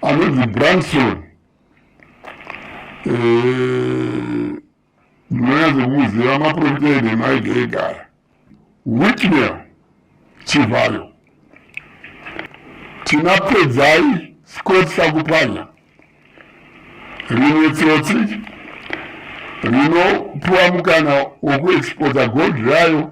anonzi branson eh, ndinonyanza kuziva maprofita ede maige egara witnel chivhayo tina pedzai scott sakupanya rimwe tsotsi rinopuwa mukana wekuexpota gold rayo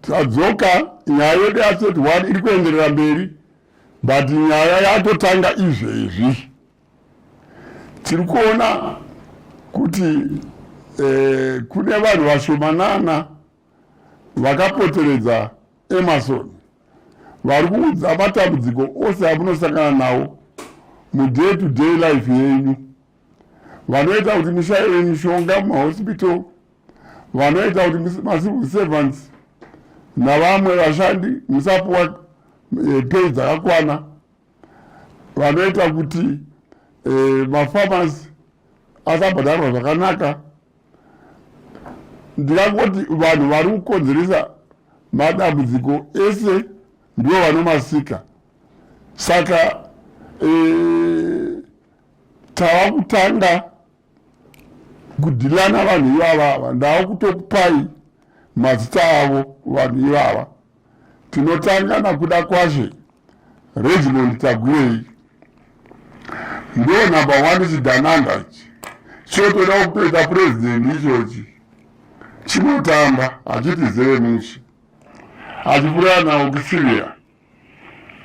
tadzoka nyaya yedu yaseti one iri kuenderera mberi but nyaya yatotanga izvezvi tiri kuona kuti eh, kune vanhu vashomanana vakapoteredza emerson vari kuudza matambudziko ose amunosangana nawo muday to day life yenyu vanoita kuti mushaire mishonga mumahospital vanoita kuti macivil servants navamwe vashandi musapuwa eh, pei dzakakwana vanoita kuti eh, mafarmers asabhadharwa zvakanaka ndikangoti vanhu vari kukonzeresa madambudziko ese ndivo vanomasika saka e, tava kutanga kudhilana vanhu ivava ava ndava kutokupai mazita avo vanhu ivava tinotanga nakuda kwashe regimond tagwirei ndo number one chidananda ichi chotoda kutoita purezidenti ichochi chinotamba hachiti zeve musi achipurana okusiria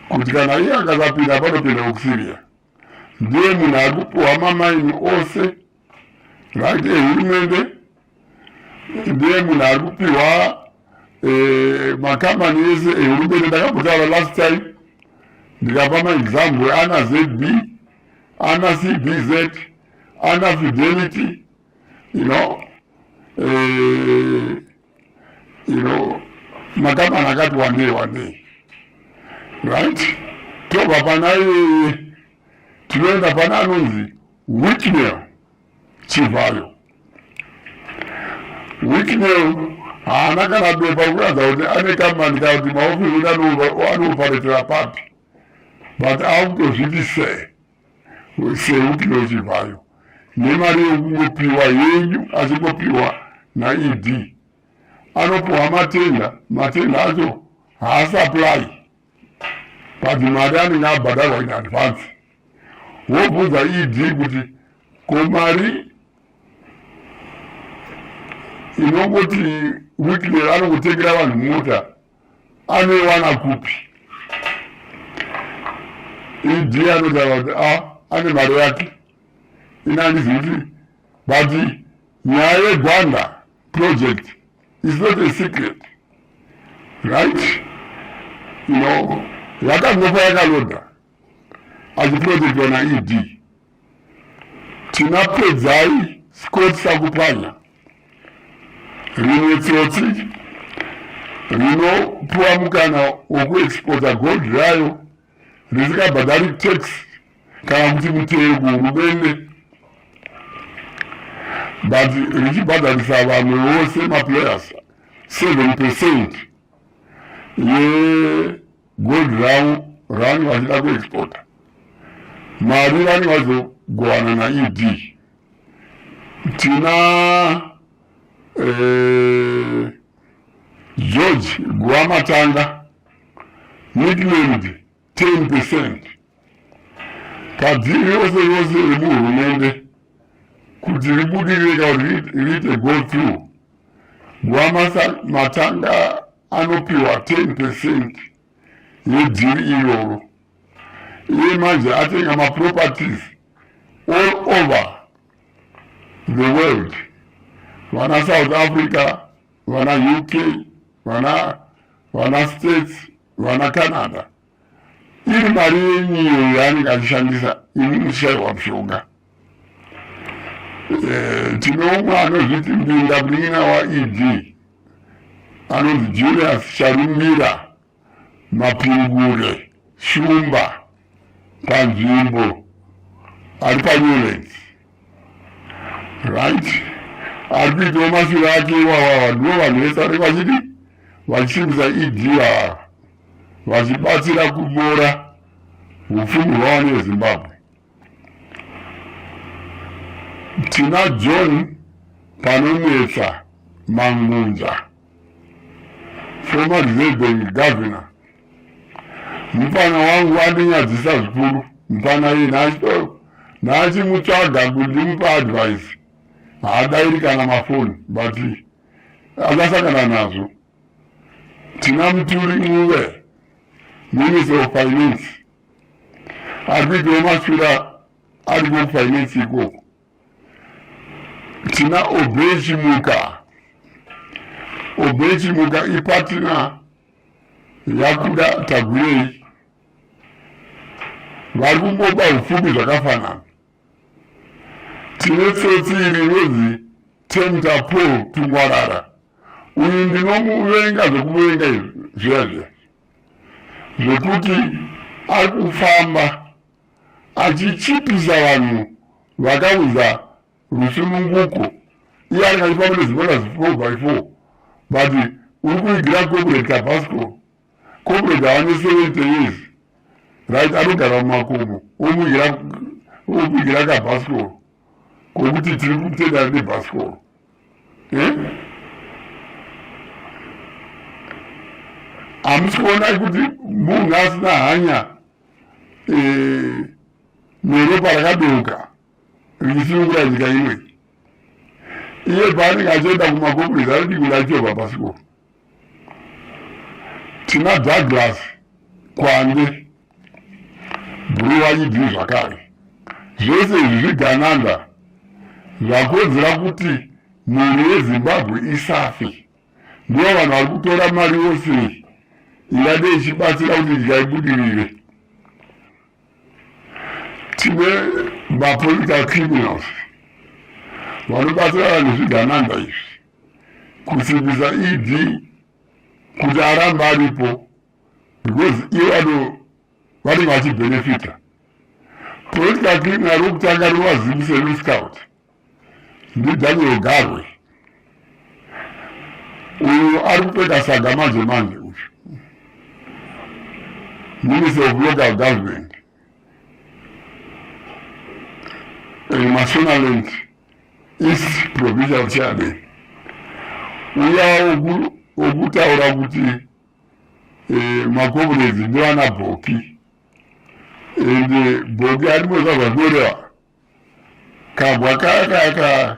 kuti kana iye akasapinda panopinda okusiria ndiye munhu ari kupiwa mamaini ose ngati ehurumende ndiye munhu ari kupiwa eh, makambani ese ehurumende ndakambotara last time ndikapa maexample ana zb ana cbz ana fidelity you know eh, iro makambani akati wandei wandei right tobva pana iyeye tinoenda pana anonzi wicknel chivhayo wicknel haana kana bepa rekuratidza kuti ane kambani kana kuti maofisi kuti anoparetera papi but akutozviti sei seupiwe chivhayo nemari yekungopiwa yenyu achingopiwa naed anopiwa matenda matenda acho haasapply but mari anenge abhadharwa in advance wobvunza ed kuti ko mari inongoti weekly anongotengera vanhu mota anoiwana kupi ed anotaura kuti a ah, ane mari yake ini handizi kuti but nyaya yegwanda project is not a secret right you know yakangofa yakaloda achiprotectwa naed tina pedzai scott sakupanya rimwe tsotsi rinopiwa mukana wokuexpota gold rayo risikabhadhari tax kana kuti mutero kuhurumende but richibhadharisa vamwe vose maplayers seven percent ye yeah. gold ravo ravange vachida kuexporta mari vange vazogovana naed tina eh, george guvamatanga nicknamed 10 percent kadziri yose yose remuhurumende kuti ribudirire ka riite go through guvamatanga anopiwa 10 percent yedhiri iroro iye manje atenga maproperties all over the world vana south africa vana uk vana vana states vana canada iri mari yenyu iyo yaanenge achishandisa imi muchishaiwa mushonga eh, tine umwe anozviti mbinda munin'ina waed anonzi julius charumbira mapingure shumba panzvimbo ari panyoleti right ari kuitawo mashure ake iwawawa ndivo vanhu vese ari vachiti vachisimbisa ed ava vachibatsira kunyora upfumi hwavana vezimbabwe tina john panonetsa mangunza former reserve bank governor mupana wangu andinyadzisa zvikuru mupana iye naachito naachimutsvaga kuti ndimupa advice haadairi kana mafoni but akasangana nazvo tina muturi muve minister of finance ari kuitawo maswira ari kufinance ikoko tina obechimuka obechimuka ipatina yakuda tagwirei vari kumboba upfumi zvakafanana tine tsotsi iri inonzi tempter paul tungwarara uyu ndinomuvenga zvekuvenga izvi zviya zviya zvekuti ari kufamba achichipisa vanhu vakaudza rusununguko iye ari kachifamba nezimona zifo by four but uri kuigira corporate tabasco comrade ane 70 years right anogara mumakomo omugira kabhasikoro kokuti tiri kutendana nebhasikoro eh? hamusi kuona kuti munhu asina hanya eh, neropa rakadouka richisunungura nyika imwe iye paanenge achienda kumakomurezi anodii kuti achobva bhasikoro tina douglas kwande buriwanyidii zvakare zvese izvi zvigananda zvakonzera kuti mhuri yezimbabwe isafe ndivo vanhu vari kutora mari yose ingade ichibatsira kuti nyika ibudirire tine mapolitical criminals vanobatsira vanhu zvigananda izvi kusimbisa ed kuti aramba aripo because iye vano vanenge vachibenefita political criminal rokutanga rinovazimbiseru scout ndidaniel garwe uyu ari kupeka saga manje manje uyu minister of local government emasonaland is provincial chairman uyawo wokutaura kuti eh, makomuredzi ndivana bhoki and eh, bhoki arimweka zvanoreva kabwa kaya kaya ka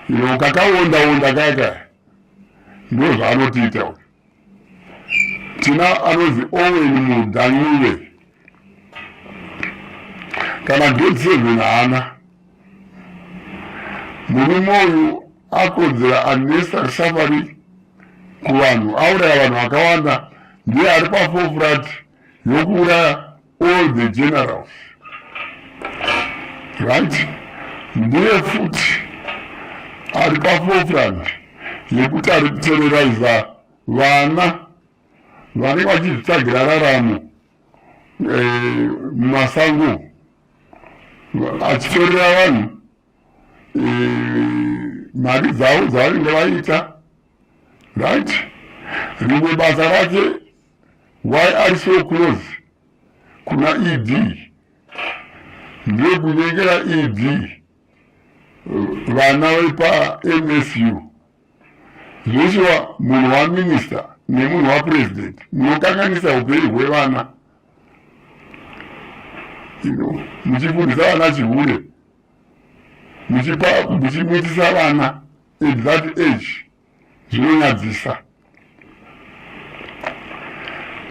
ino kakaondaonda kaya kaya ndo zvaanotiita tina anonzi owen mudanyuve kana grade seven haana murume uyu akodzera unnecessary suffering kuvanhu auraya vanhu vakawanda ndiye ari pafofurati yokuuraya all the generals right ndiye futi ari pafofrand yekuti ari kutereraiza vana vanenge vachizvitsvagira raramo eh, mumasango achitorera vanhu eh, mari dzavo dzavanenge vaita right rimwe basa rake why are so close kuna ed ndekunyengera ed vana vepamsu zveshuwa munhu waminista nemunhu wapresident munokanganisa upenyu hwevana muchifundisa vana chihure muchipa muchimuitisa vana at that age zvinonyadzisa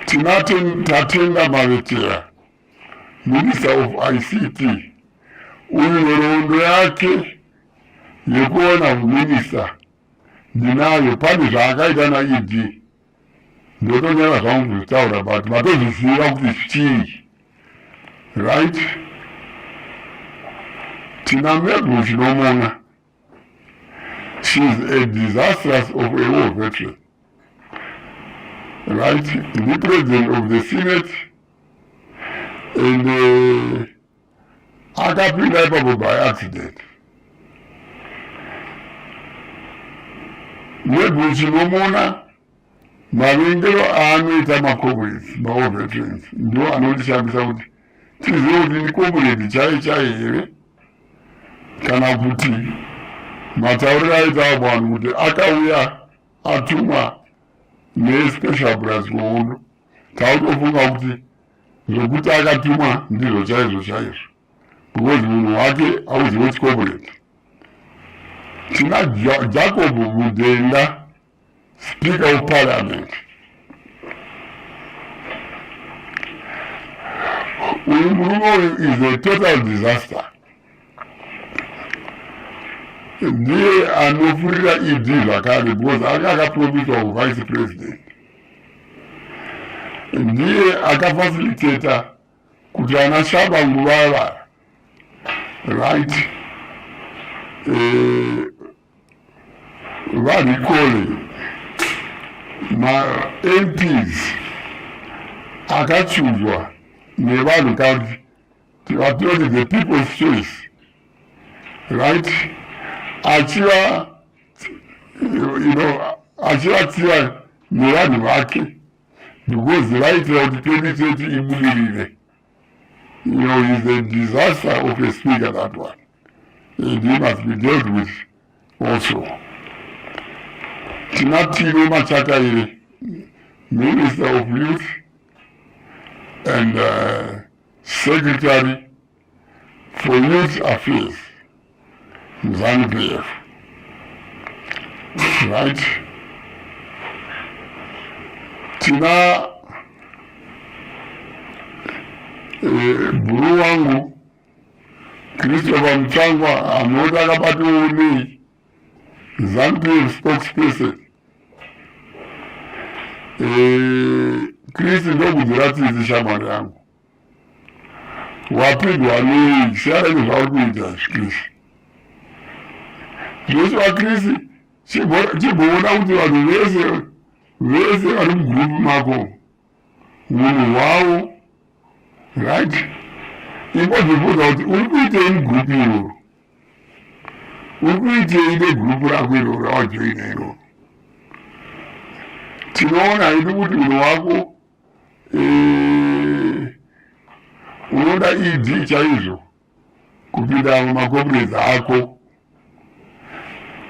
tinati tatenda mavetera minister of ict uyu nhoroondo yake yekuona uminista ndinayo pane zvaakaita naed ndotonyara zvangu kuzvitaura but matozviziva kuti chii right tina mebhu chinomona She is a disastrous of a war veteran. Right? The president of the Senate and uh, akapinda ipapo by accident. Nebhuchi nomona Mavengero aanoita macomrades maold veterans ndo anondishamisa kuti tizive kuti ndicomrade chai chai here kana kuti matauriro aitawo vanhu kuti akauya atumwa nespecial bras kuhondo tautofunga kuti zvokuti akatumwa ndizvo chaizvo chaizvo because munhu wake auziwe chicomrade tina jacob mudenga Speaker of Parliament, uyu murume uyu is a total disaster. Ndiye anofurira ED zvakare because anga akapromiswa kuvice president. Ndiye akafacilitator kuti ana shaba nguvava right. Eh, varikole mamps akachuzwa nevanhu kadi tivatoti the people's choice right achiva you know achivatsiva nevanhu vake because vaitira kuti twenty thirty ibudirire you know is a disaster of a speaker that one and he must be dealt with also tina tino machakaire minister of youth and uh, secretary for youth affairs mzanu pf right tina eh, bhuru wangu Christopher Mutsvangwa anoti akabatwawo neZanupf spokesperson eh, Chris ndokudzira tsitsi shamwari yangu wapigwa nei siyana nezvauri kuita Chris zvese vaChris chimboona kuti vanhu vese vese vari mugrupu mako Munhu wawo right imbozvibvunza kuti uri kuitei mugrupu iroro uri kuitei negrupu rako iroro rawajoina iroro tinoona hedu kuti munhu wako eh, unoda ed chaizvo kupinda mumacompanies ako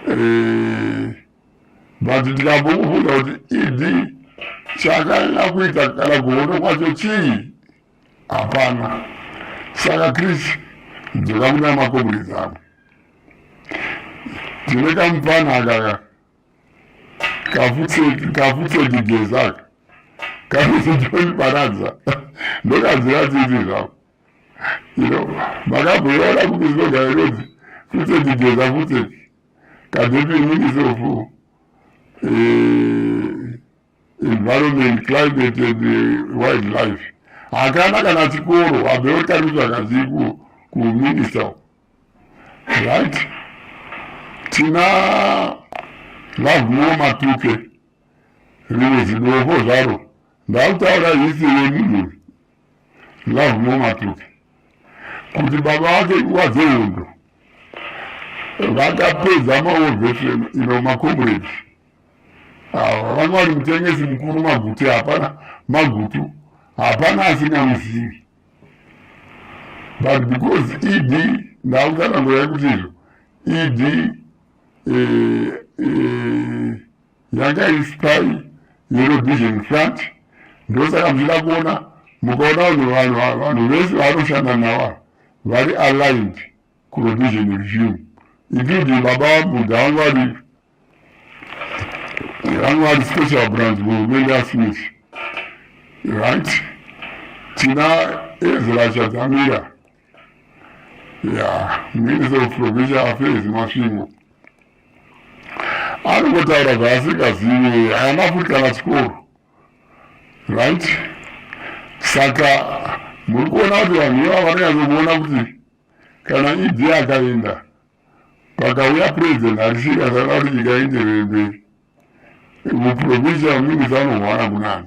eh, but ndikambokubvunza kuti ed chakanyanya kuita kana kuhondo kwacho chii hapana saka chris dzoka kuna macompanies ako tine kamupana akaka kafutsedi gezaka kafutsedi koniparadza ndokadzira tsitsi zvako ino makambuyona kumizoga inonzi futseki geza futseki kadepi inini sofu eh, environment climate and eh, wild life hakana kana chikoro abewo tariswa kazii kuminista right tina lavuwo matuke rimwe zidovo zvaro ndakutaura hisi yemunhu love more matuki kuti baba vake nguva dzehondo vakapedza maovhesheni ino makomuredi ava vanga vari mutengesi mukuru maguti hapana magutu hapana asina muzivi but because ed ndakutsanangura yekuti izvo ed eh, eh, Nyanga is time yellow vision front ndosaka muchida kuona mukaona vanhu vanhu vanhu vese vanoshanda nawa vari aligned kurovision regime including baba vambuda vangu vari vangu vari special branch muhurumende yasmith right tina ezra chadzamira ya minister of provincial affairs masvingo anongotaura zvaasingazivi haana futi kana chikoro right saka muri kuona kuti vanhu ivava vanonyatsokuona kuti kana idi e akaenda pakauya president harisika saka kuti nyika ienderere mberi muprovincial minister anohwana kunani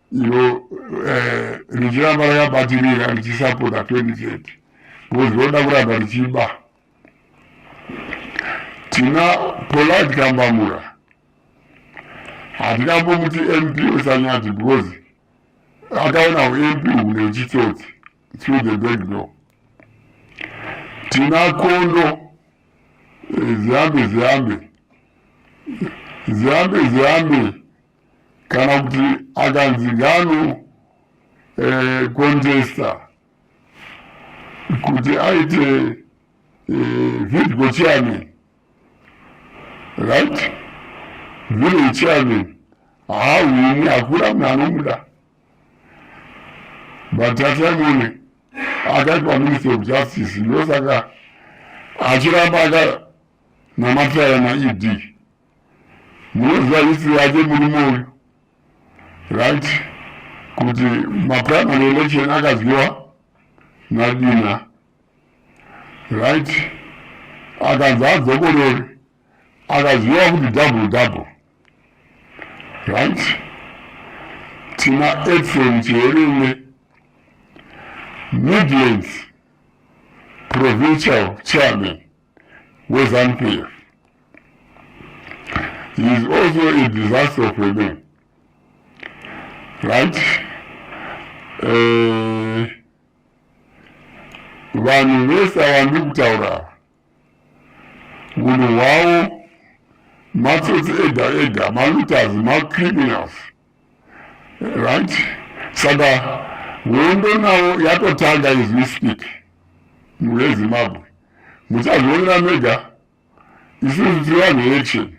iro eh, richiramba rakabatirira richisapota 2030 because roda kuramba richiba tina polite kambamura hatingambomuti mp usanyati because akaona ump hune uchitsotsi through the back door tina kondo eh, zihambe zihambe zihambe zihambe kana kuti akanzi ngano eh, contesta kuti aite eh, vidgo chairman right village chairman haahwini hakuna munhu anomuda but tatamone akaitwa minister of justice ndosaka achiramba akanamatira naed munoziva history yake murume uyu right kuti maprimary election akadyiwa nadina right akanzi adzokorore akaziva kuti double double right tina efron cheerume midlands provincial chairman weZanu PF. He is also a disaster of a man. Right? Eh, vanhu vese ava ndiri kutaura ava munhu hwavo matsotsi ega ega malutazi macriminals right saka hondo nawo yatotanga as we speak muvezimbabwe muchazvionera mega isusu tiri vanhu veaction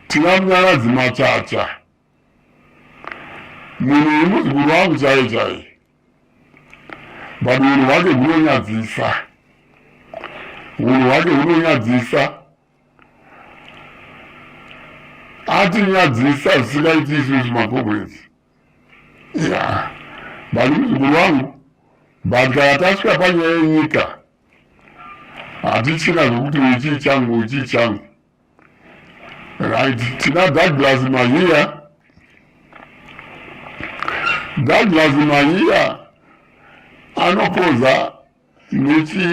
tina munyaradzi machacha munhu uyu muzukuru wangu chaiye chaiye but unhu hwake hunonyadzisa unhu hwake hunonyadzisa atinyadzisa zvisingaiti izvizvi makomrades ya bani muzukuru wangu but kana tasvika panyaya yenyika hatichina zvokuti uyu chii changu uyu chii changu right tina douglas mahiya douglas mahiya anokoza Tinoti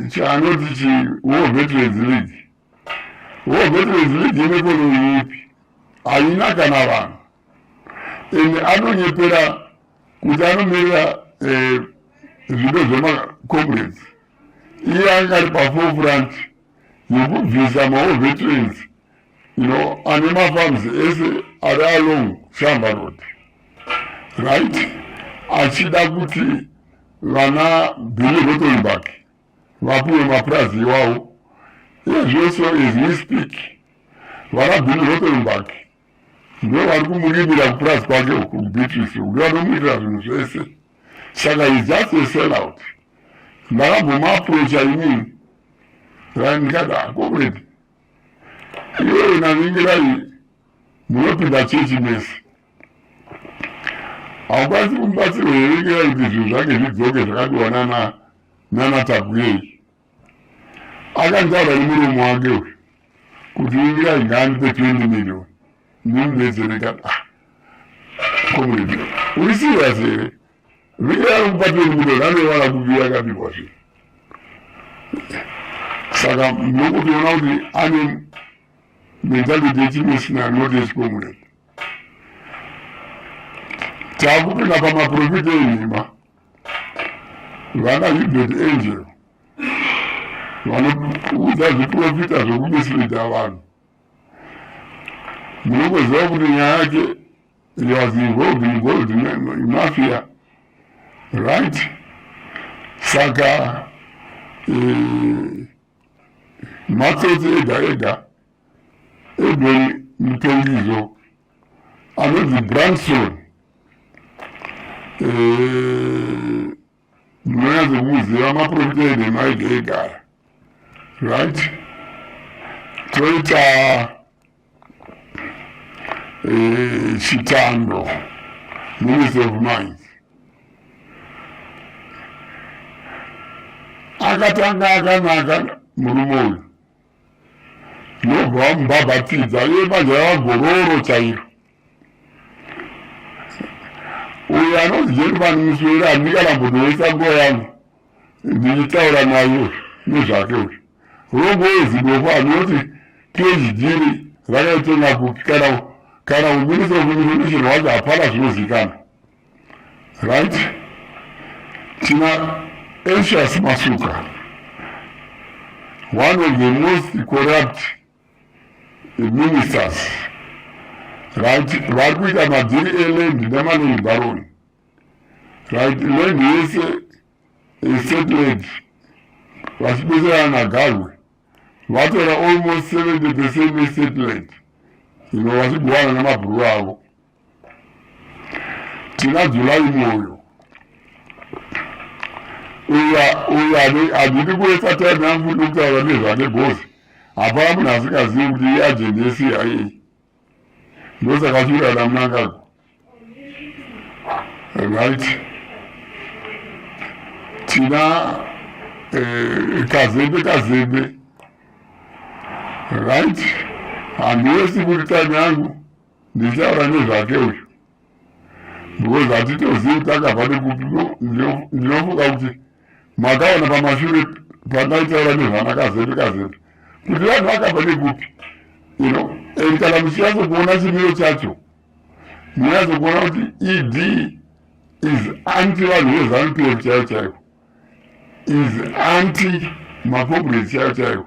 chaanoti eh, chi War Veterans League. War Veterans League inekonomi ipi? Haina kana vanhu. Ende anonyepera kuti anomirira eh, zvido zvemacomrades. Iye anga ari pafofront yekubvisa maWar Veterans no ane mafans ese ari along shamba road right achida kuti vana billy rotenbak vapiwe mapurazi iwawo ezvese as we speak vana billy rotenbak ndo vari kumurimira kupurazi kwake uku beatrice uku vanomuitira zvinhu zvese saka is just a sell out ndakambomaaprocha inini ndikati akomredi ah, Iwewe naningirai munopinda chechi mese haukwanisi kumubatsirwa here ngira kuti zvinhu zvake zvidzoke zvakadiwa nana nana takuyei akantaura nemuromo wake uyu kuti ingira ingandipe 20 million ndimubetsereka ah, komredi uri serious here Vira mupatiro muno nane vana kuvira kapi kwazvo. Saka ndokutoona kuti ane mentality yechimishina not yechikomuneti. Takupinda pamaprofita enhema vana Hubert Angel vanoudza zviprofita zvekumisirida vanhu Munongoziva kuti nyaya yake he was involved in gold mafia right saka eh, matsotsi ega ega even mutongizo anonzi branson eh, ndinonyadza kumuziva maprofita ede maige egara right toita eh, chitando minister of mines akatanga akanaka murume uyu ndobva vamubabatidza iye banja ravagororo chairo uyo anonzi jerumani muswera handikarambonoisa nguva yangu ndichitaura nayo nezvake uyu rongo wezidofo anoti phd rakaitenga kupi kana kana kuminisira kuminisira wacho hapana zvinozikana right tina anxious masuka one of the most corrupt ministers right vari kuita madhiri eland nemaloni baroni right land yese esetland vachibetserana nagarwe vatora almost seventy percent esetland ino vachiguwana nemabhuru avo tina july moyo uya uya handidi kuwesa time yangu kuti ndikutaura nezvake gozi hapana munhu asingazivi kuti iye ajendi yecia ndosaka chiura namunangagwa right tina eh, kazembe kazembe right handiwesi kuti time yangu ndichitaura nezvake uyu because hatitozivi kuti akabva nekupi ndinofunga kuti makaona pamashure pandaitaura nezvana kazembe kazembe kuti vanhu vakabva nekupi you know and kana muchinyatsokuona chimiro chacho munyatsokuona kuti ed is anti vanhu vezanu pf chaivo chaivo is anti mapobresi chaivo chaivo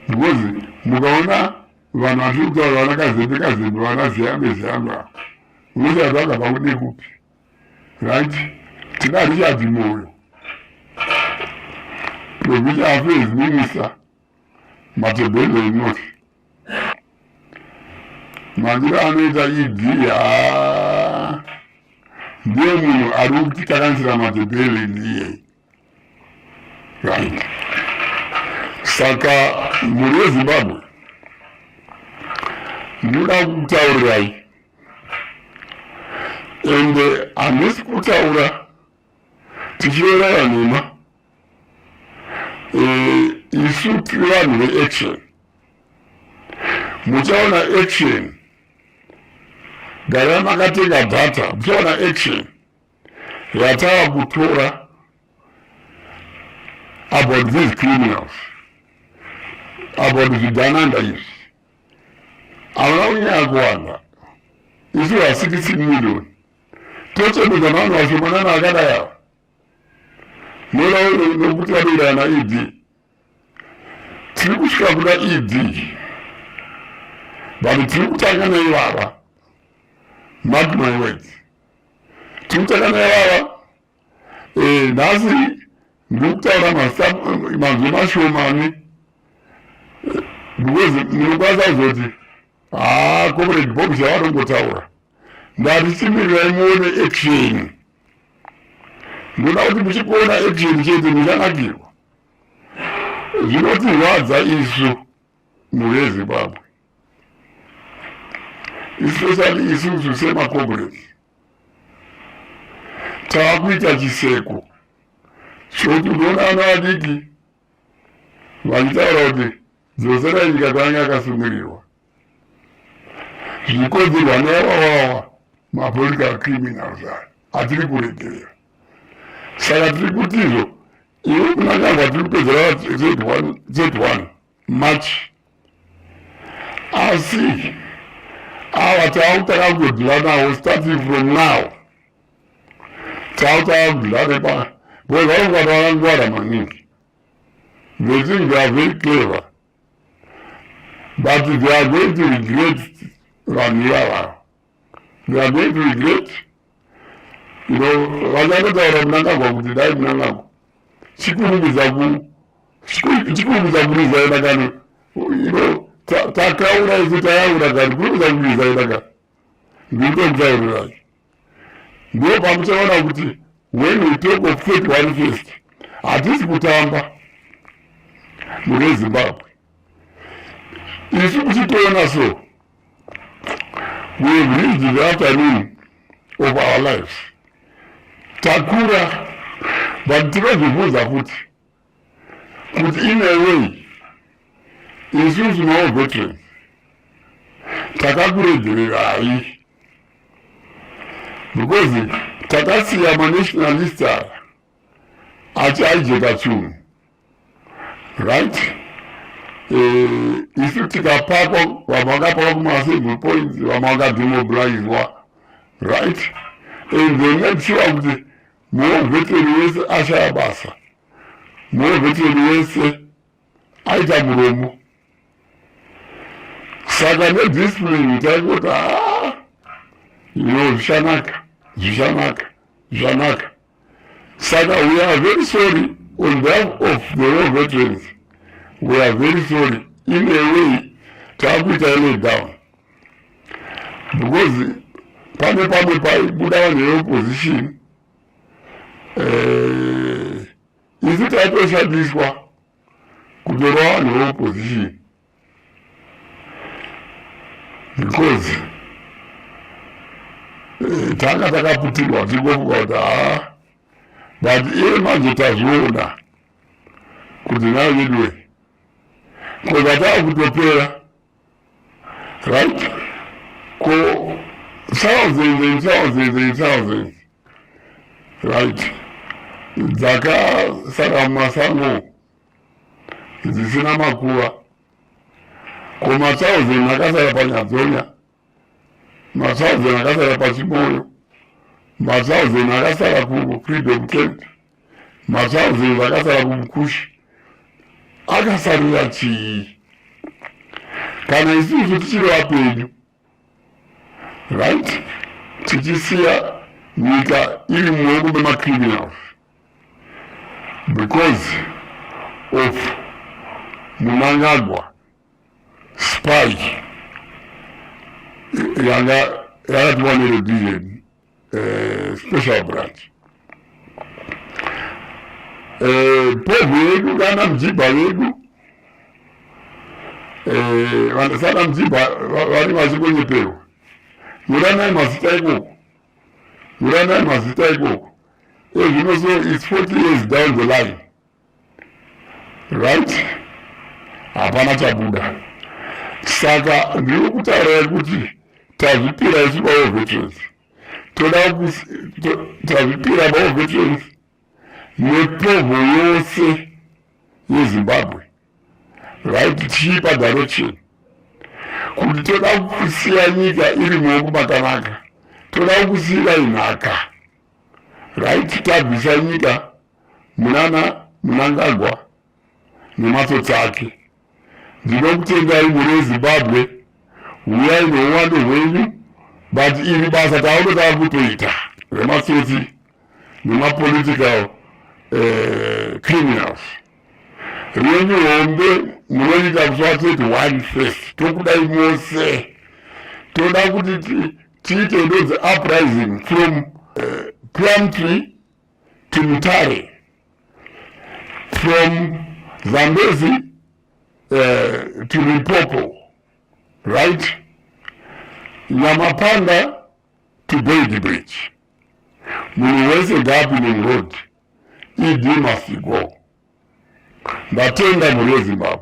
because mukaona vanhu vatiri kutaura vana kazembe kazembe vana ziyambe ziyambe ava unoziva zvanga pakude kupi right tina richard moyo provincial affairs minister matebhelo inoti mandiro anoita ed haa ndiye munhu ari kutitakanisira matebhelo ndiyeyi right. Saka mhuri yeZimbabwe ndinoda kutaurirai ende uh, handisi kutaura tichiverana nhema eh, isu tiri vanhu veaction muchaona action gara makatenga data muchaona action yatava kutora about these criminals about zvigananda izvi havana kunyaya kuwanda isu vasitisi million tochemedza navanhu vashomanana akadai ava nolauno nokuti vanoirana ed tiri kusvika kuda ed but tiri kutanga naivava mark my words tinotakaneava eh, nhasi ndikutaura manzwi mashomani eh, because ndinokwanisa kuzoti haa ah, comrade bob zvavatongotaura ndati chimirirai muone action ndoda kuti muchikuona action chete muchanakirwa zvinotirwadza isu mhuri yezimbabwe especially isusu semacomrades taakuita chiseko chokuti unoona ana adiki vachitaura kuti dzosera nyika kwaange akasungirirwa zvikodzerwa neavawawa mapolitical criminals aya atiri kuregerera saka tiri kutizvo iwe kunakanga tiri kupedzera z1 March asi ava taakutanga kudhila nawo starting from now taakutanga kudhila nepa because vanenge vanhu vakangwara maningi they think they are very clever but they are going to regret vanhu ivavavo they are going to regret you know vachangotaura munangagwa kuti dai munangagwa chikurumidza chikurumidza kurizaina kani you know takaura isu tayaura kani kurumidza kurizaina kani ndindotauro racho ndo pamuchaona kuti when we talk of thirty one first hatisi kutamba mune zimbabwe isu kuchitoona so We have reached the afternoon of our lives. Takura, but tinozvibvunza kuti kuti in a way isusu nawo veterans takakuredzererayi because takasiya manationalist aya achiaijeka chunhu right eh, isu tikapakwa vamwe vakapakwa kumasingle points vamwe vakademobilizwa right and they made sure kuti more veteran wese ashaya basa more veteran wese aita muromo saka nediscipline taikoti a ah, ino zvichanaka zvichanaka zvanaka saka we are very sorry on behalf of the war veterans we are very sorry in a way taakuita ele down because pane pamwe paibuda vanhu veopposition eh, isu taitoshandiswa kutorwa vanhu veopposition because eh, tanga takaputirwa tingofunga kuti haa but iye manje tazviona kuti nayo veduwe ko zvatava kutopera right ko thousands and thousands and thousands right dzakasara mumasango dzisina makuva ko matsauzeni akasara panyadzonya matsauzeni akasara pachimoyo matsauzeni akasara kufreedom tent matsauzeni akasara kumukushi akasarira chii kana isusu tichiri vapenyu right tichisiya nyika iri mumaoko memacriminals because of munangagwa spy yanga yakatiwa neredizeni eh, special branch eh, povo yedu kana mjibha vedu eh, vanasana mjibha vari vachikonyeperwa nyoranai mazita ikoko nyoranai mazita ikoko ezvino so its 40 years down the line right hapana chabuda saka ndiri kutaura kuti tazvipira isu bawo veterans toda tazvipira bawo veterans nepovo yose yezimbabwe right tichiipa direction kuti toda kusiya nyika iri muoko makanaka toda kusiira inhaka right tabvisa nyika munana munangagwa nematsotsi ake ndinokutendai mune zimbabwe huyai nouwando hwenyu but iri basa tauno tava kutoita rematsotsi nemapolitical eh, criminals renyu hombe munoita kusvateti one face tokudai mose toda kuti tiite ndodzi uprising from uh, eh, plumtree Kimutare from Zambezi uh, to Limpopo, right? Nyamapanda to Gold Bridge. Munhu wese ngaapinde road. ED must go. Ndatenda mhuri yeZimbabwe.